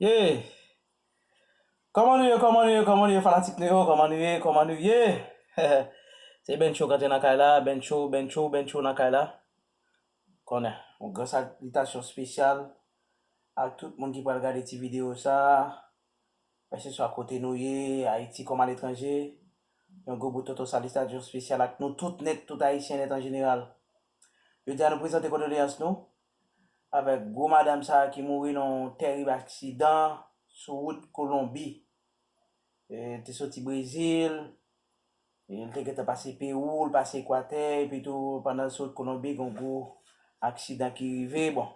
Yee Kòman nou ye kòman nou ye kòman nou ye fanatik nou yo kòman nou ye kòman nou ye heheh se Bencho k antre nan kay la Bencho Bencho Bencho nan kay la ou konnen yon gran salitasyon spesyal ak tout moun ki pral gade ti videyo sa keseswa kote nou ye Ayiti kòm aletranje yon gwo bout toto salitasyon spesyal ak nou tout nèt tout ayisyen nèt an jeneral jodi a nou prezante kondoleyans nou avèk gwo madam sa ki mouri nan yon tèrib aksidan sou wout Kolonbi. Li te soti Brezil, li te gentan pase Pewou, li pase Ekwatè, epi tou pandan l sou wout Kolonbi gen yon gwo aksidan ki rive, bon,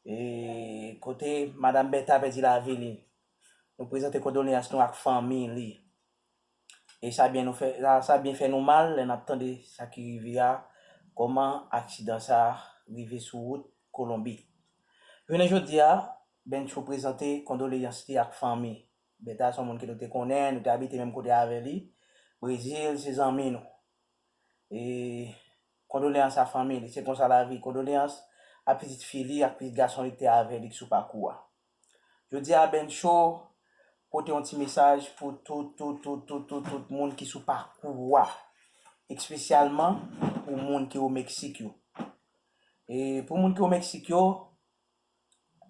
e kote madam Bèta pèdi lavi li. Nou prezante kondoleyans nou ak fanmi li. E sa byen nou fè, sa byen fè nou mal lè nap tande sa ki rive a, kòman aksidan sa rive sou wout Kolonbi. Jounen jodi a, Bencho prezante kondoleyans li ak fanmi. Bertha se yon moun ke nou te konnen, nou te abite menm kote avè li, Brezil se zanmi nou. E kondoleyans a fanmi li, se konsa lavi, kondoleyans a pitit fi li ak pitit gason li ki te avè li ki sou pakou a. Jodi a Ben Show pote yon ti mesaj pou tout tout tout tout tout tout moun ki sou pakou wa, ekspesyalman pou moun ki o Meksik yo. E pou moun ki o Meksik yo,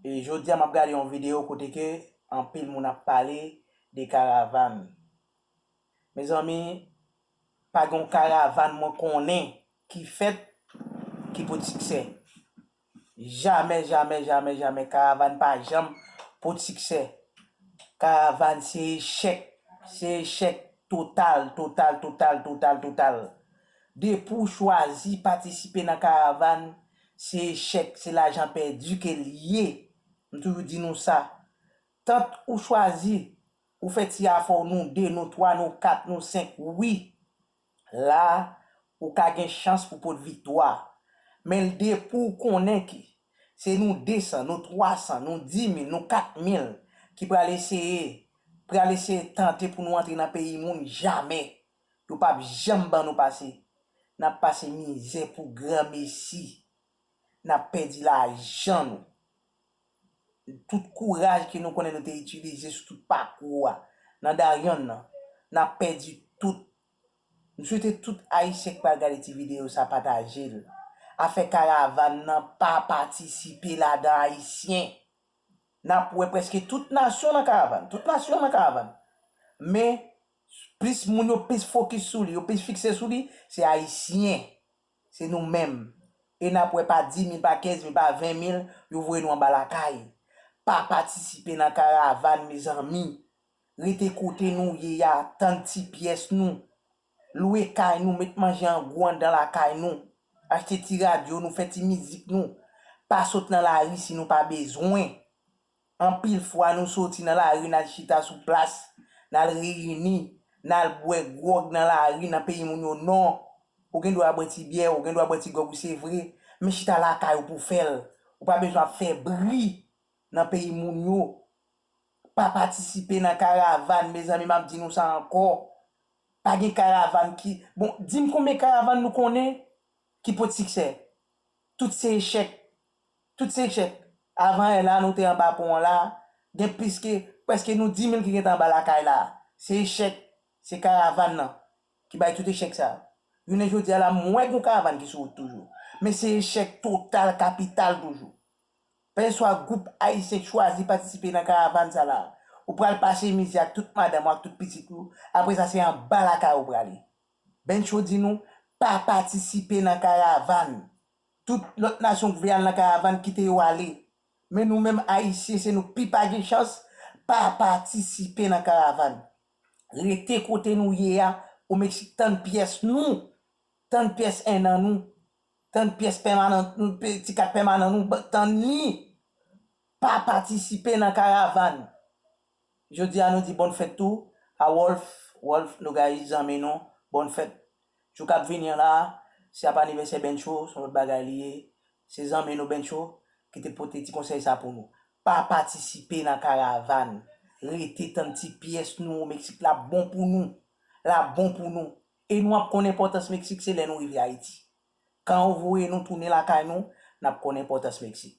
e jodi a map gade yon video kote ke anpil moun ap pale de karavan. Mezanmi, pa gen yon karavan mwen konnen ki fèt ki pot siksè. Jamè jamè jamè jamè karavann pa janm pou t siksè karavann se echèk se echèk total total total total total depi w chwazi patisipe nan karavann se echèk se lajan pèdi ke l ye m toujou di nou sa tant ou chwazi ou fè ti afò w nou 2 nou 3 nou 4 nou 5 wi La, ou ka gen chans pou pot viktwa. Men l depi w konnen ke se nou 200, nou 300, nou 10,000, nou 4,000 ki pral eseye, pral eseye tante pou nou antre nan peyi moun, jamè! Yo pap janm ban nou pase. N ap pase mizè pou granmesi. N ap pèdi lajan nou. tout kouraj ke nou konnen nou te itilize sou tout pakou a nan Darian nan, nap pèdi tout. M swete tout Ayisyen ki pral gade ti videyo sa pataje l. Afè karavann nan pa patisipe ladan Ayisyen. Nap wè prèske tout nasyon nan karavann, tout nasyon nan karavann. Men, plis moun yo plis fokis sou li, yo plis fikse sou li, se Ayisyen. Se nou menm. E n ap wè pa dimil, pa kenzmil, pa venmil, yo voye nou anba lakay. Pa patisipe nan karavàn mezanmi. Rete kote nou ye a, tann ti pyès nou. Lwe kay nou, met manje an gwo anndan lakay nou. Achte ti radyo nou, fè ti mizik nou. Pa sot nan lari si nou pa bezwen. Anpil fwa nou soti nan lari n al chita sou plas, n al reyini, n al bwè gwòg nan lari nan peyi moun yo non. Ou gen dwa bwè ti byè, ou gen dwa bwè ti gwòg ou se vre, men chita lakay ou pou w fè l. Ou pa bezwen ap fè bri nan peyi moun yo. Pa patisipe nan karavan, mezanmi m ap di nou sa ankò. Pa gen karavan ki, bon di m konbyen karavan nou konnen ki pot siksè? Tout se echèk. Tout se echèk. Avan è la nou te anba pon an la, gen plis ke, prèske nou dimil ki gentan anba lakay la. Se echèk, se karavan nan ki bay tout echèk sa. Jounen jodi a la m wè gon karavan ki sou wout toujou. Men se echèk total kapital toujou. Pè swa gwoup ayisyen k chwazi patisipe nan karavan sa la, ou pral pase mizè ak tout madanm ou ak tout pitit ou, apre sa se anba lakay ou prale. Bencho di nou, pa patisipe nan karavan. Tout lòt nasyon k vle al nan karavann kite yo ale men nou menm ayisyen se nou k pi pa gen chans pa patisipe nan karavann rete kote nou ye a o meksik tann pyès nou tann pyès 1 an nou tann pyès pèmanan nou ti kat pèmanan nou tann ni pa patisipe nan karavann Jodi a nou di bòn fèt tou a Wolf, Wolf Nogais zanmi nou, bòn fèt. Jou kap vini an la, se ap anivèsè Bencho, son lòt bagay li ye. Se zanmi nou Bencho ki te pote ti konsèy sa pou nou. Pa patisipe nan karavan, rete tann ti pyès nou o Meksik la bon pou nou, la bon pou nou. E nou ap konn enpòtans Meksik se lè nou rive Ayiti. Kan ou voye nou tounen lakay nou, nap konn enpòtans Meksik.